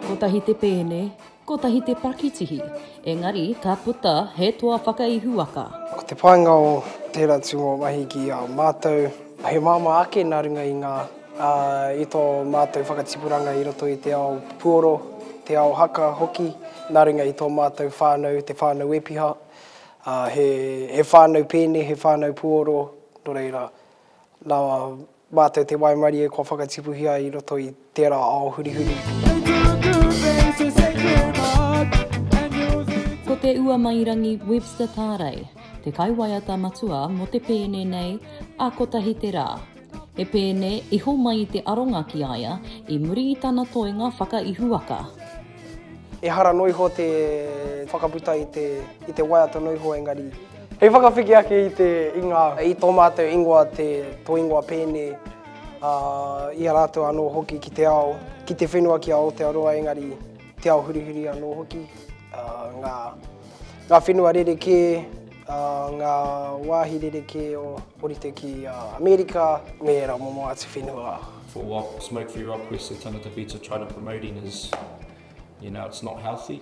Kotahi te pēne, kotahi te pakitihi, engari ka puta he toa whakaihuwaka. Ko te painga o tērā tūngōmahi ki a mātou, he māmā ake nā runga i ngā, i tō mātou whakatipuranga i roto i te ao puoro, te ao haka hoki, nā runga i tō mātou whānau, te whānau Wepiha, he whānau pēne, he whānau puoro, nō reira. Nā mātou te waimarie kua whakatipuhia i roto i tērā ao hurihuri. Ko Te Uamairangi Webster Pārei te kaiwaiata matua mō te pēne nei a Kotahi te Rā. He pēne iho mai te aronga ki a ia i muri i tana toenga whakaihuwaka. Ehara noa iho te whakaputa i te waiata noa iho engari Hei whakawhiti ake i te inga. I tō mātou ingoa te tō ingoa pēnei, ā, i a rātou anō hoki ki te ao, ki te whenua ki a Aotearoa engari te ao hurihuri anō hoki, ā, ngā, ngā whenua rerekē, ā, ngā wāhi rerekē o orite ki a Amerika me ērā momo atu whenua. For what Smoke Free Rock West of Tangata Beats are trying to promoting is, you know, it's not healthy.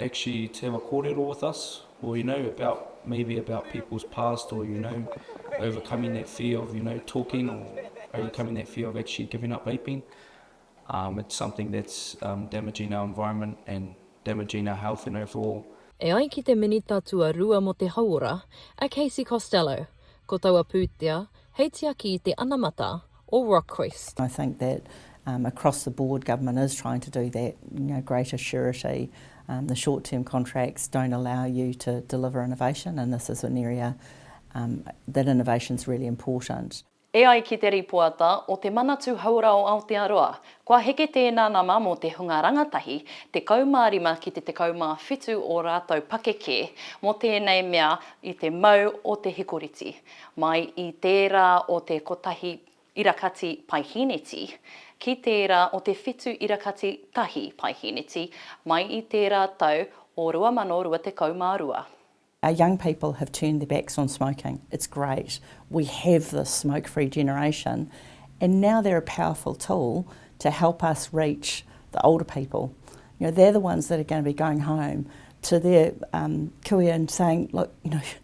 actually to have a kōrero with us, or you know, about, maybe about people's past, or you know, overcoming that fear of you know, talking, or overcoming that fear of actually giving up vaping. Um, it's something that's um, damaging our environment and damaging our health and overall. E ai ki te Minita Tuarua mō te Hauora, a Casey Costello, ko taua pūtea hei tiaki i te anamata, or request. I think that across the board government is trying to do that, you know, greater surety, the short term contracts don't allow you to deliver innovation and this is an area that innovation is really important. E ai ki te rīpoata o Te Manatū Hauora o Aotearoa, kua heke tēnā nama mō te hunga rangatahi 15 ki te 17 ō rātou pakeke mō tēnei mea i te mau o te hikoriti. Mai i tērā o te kotahi irakati paihīneti, ki tērā o te whitu irakati tahi paihīneti, mai i tērā tau o 2022. Our young people have turned their backs on smoking, it's great, we have this smoke free generation and now they're a powerful tool to help us reach the older people. You know, they're the ones that are going to be going home to their kuia and saying, look, you know,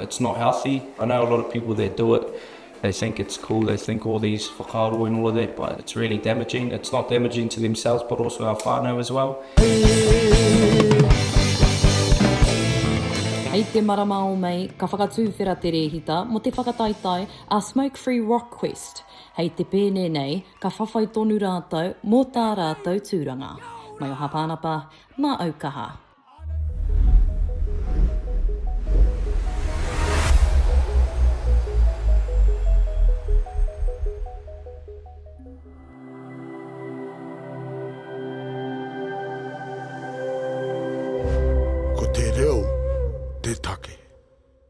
It's not healthy, I know a lot of people that do it, they think it's cool, they think all these whakaaro and all of that, but it's really damaging, it's not damaging to themselves but also our whānau as well. Hei te marama o Mei, ka whakatūwhera te rēhita mō te whakataetae a Smoke Free Rock Quest. Hei te pēne nei, ka whawhai tonu rātou mō tā rātou tūranga. Mai o Hapānapa, mā Aukaha. Ko te reo te take.